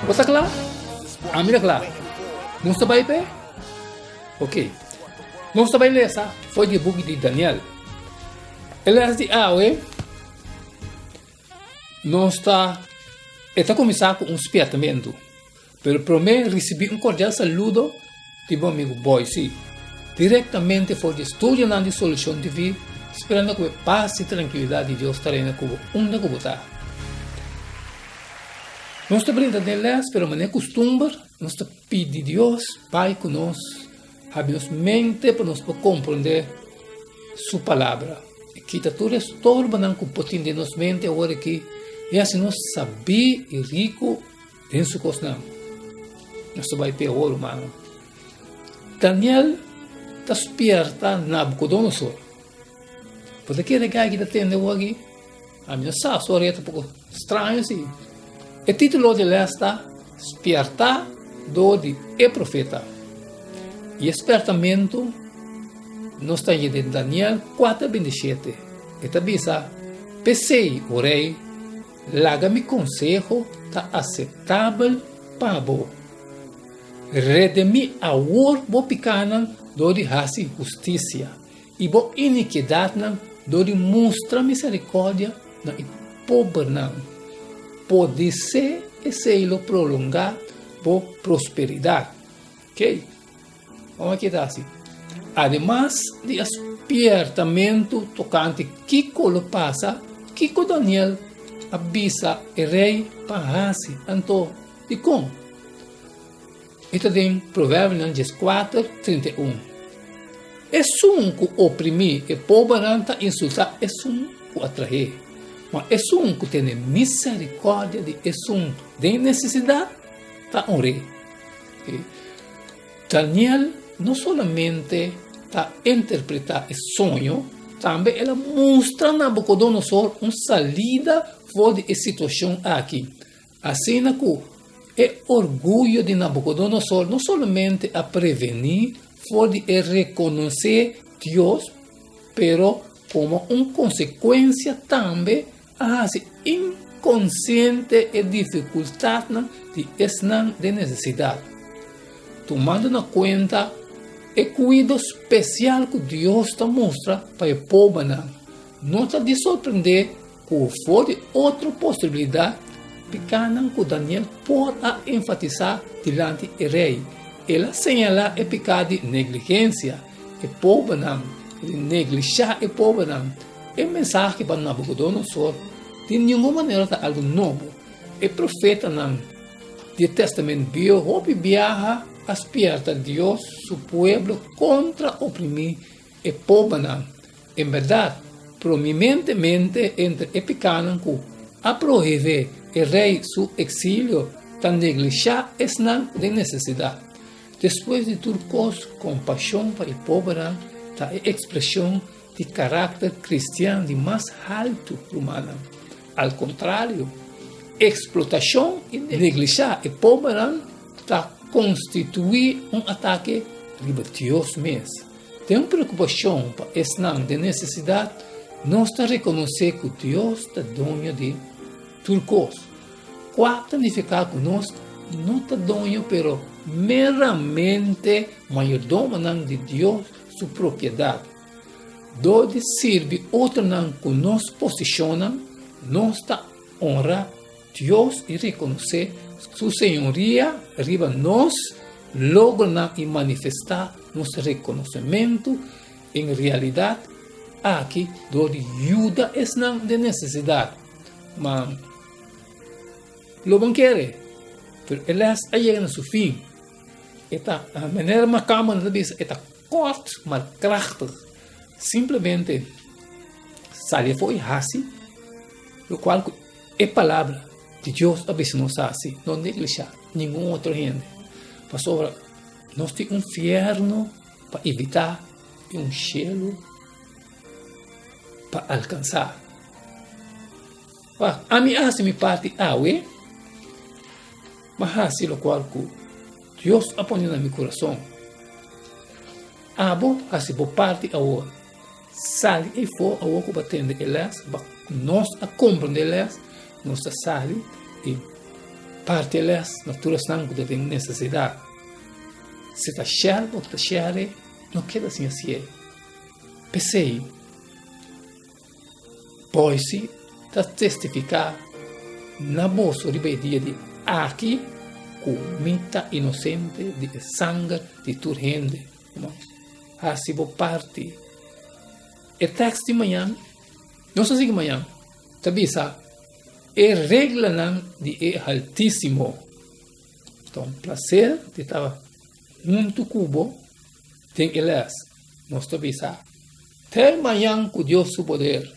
Bo ta kla? Ami ta kla. Nos ta bai p'e? Oke. Nos ta bai lesa fo'i di buki di Daniel. E lesa di awe nos ta, e ta kuminsá ku un spièrtamentu. Pero prome ricibi un cordial saludo di bo amigo Boyce, directamente for di estudionan di Solucion TV, sperando cu e paz y tranquilidad di Dios ta reina cu bo unda cu bo ta. Nos ta brinda den les, pero manera custumber, nos ta pidi Dios bay cu nos, habi nos mente pa nos por comprende Su Palabra, y kita tur estorbonan cu por tin den nos mente aworaki, y haci nos sabi y rico. Den su kosnan, nos ta bai peor, rumannan. Daniel ta spierta Nabukodonosor. Bo ta kere gei ki ta tende bo aki? Ami no sa su ora e ta poko straño si. E titulo di lès ta Spierta dor di e profeta. I e spiertamentu nos ta haya den Daniel kuater binti shete. E ta bisa, Pesei, o rei, Laga mi konseho ta aseptabel pa bo. Redimí awor bo pikánan dor di hasi hustisia i bo inikiedatnan dor di mustra miserikòrdia na e pobernan. Podisé esei lo prolongá bo prosperidat. Ke? Bon a keda así. Ademas di e spiertamentu tokante kiko lo pasa, kiko Daniel a bisa e rei pa hasi anto? Dikon? E ta den Proverbinan dieskuater trinta i un. Esun ku oprimí e pobernan ta insultá esun ku a trahé, ma esun ku tene miserikòrdia di esun den nesesidat ta onr'é. E Daniel no solamente ta interpretá e soño, tambe el a mustra Nabukodonosor un salida for di e situashon akí. Asina ku e orguyo di Nabukodonosor no solamente a prevení for di e rekonosé Dios, pero komo un konsekuensia tambe A hasi inkonsiente e difikultatnan di esnan den nesesidat, tumando na kuenta e kuido spesial ku Dios ta mustra pa e pobanan. No ta di sorprendé ku for di otro posibilidat pikanan ku Daniel por a enfatisá dilanti e rei, el a señalá e piká di negligensia, E pobernan tin neglishá e pobernan. E mensahe pa Nabukodonosor di ningun manera ta algu nobo. E profetanan di e Tèstamènt Biaha hopi biaha a spièrta Dios su pueblo kontra oprimí e pobernan. En bèrdat, promimentemente entre e pikanan ku a prohivé e rei su eksilio ta neglishá esnan den nesesidat. Despues di tur kos, kompashon pa e pobernan ta e ekspreshon di karakter kristian di mas haltu rumannan. Al kontrario, eksplotashon i neglishá e pobernan ta konstituí un atake riba Dios mes. Den preokupashon pa esnan den nesesidat, nos ta rekonosé ku Dios ta doño di. Tur kos. Kua ta nifiká ku nos no ta doño pero meramente mayordomonan di Dios su propiedat. Dor di sirbi otronan ku nos posishonnan, nos ta onrá Dios i rekonosé su señoria riba nos logronan i manifestá nos rekonosementu den realidat aki dor di yuda esnan den nesesidat. Ma lo bon kere, pero e les a yega na su fin. E ta, manera Maccaman ta bisa, e ta kort, mal krachtig. Simplemente sali afo'i hasi lokual ku e palabra di Dios a bisa nos hasi, no neglishá ningun otro hende. Pasobra nos tin un fierno pa evitá i un shelu pa alkansá. Wak, ami a hasi mi parti awe, m'a hasi lokual ku Dios a pone na mi kurason. Abo hasi bo parti awor. Sali ei fo awor ku bo a tende e lès, pa nos a komprende e lès, nos ta sali i parti e lès na tur esnan ku ta den nesesidat. Si ta shèr bo ta shèr ei, no keda sin hasi ei. P'esei, Boyce ta testifiká, Na boso riba e dia di aki ku mi ta inosente di e sanger di tur hende ku no hasi bo parti. E tèks di mañan, Nos a sigui mañan, ta bisa, E reglanan di e Altísimo. Ta un plaser di tabaha huntu ku bo. Tin e les, nos ta bisa. Te mañan cu Dios su poder.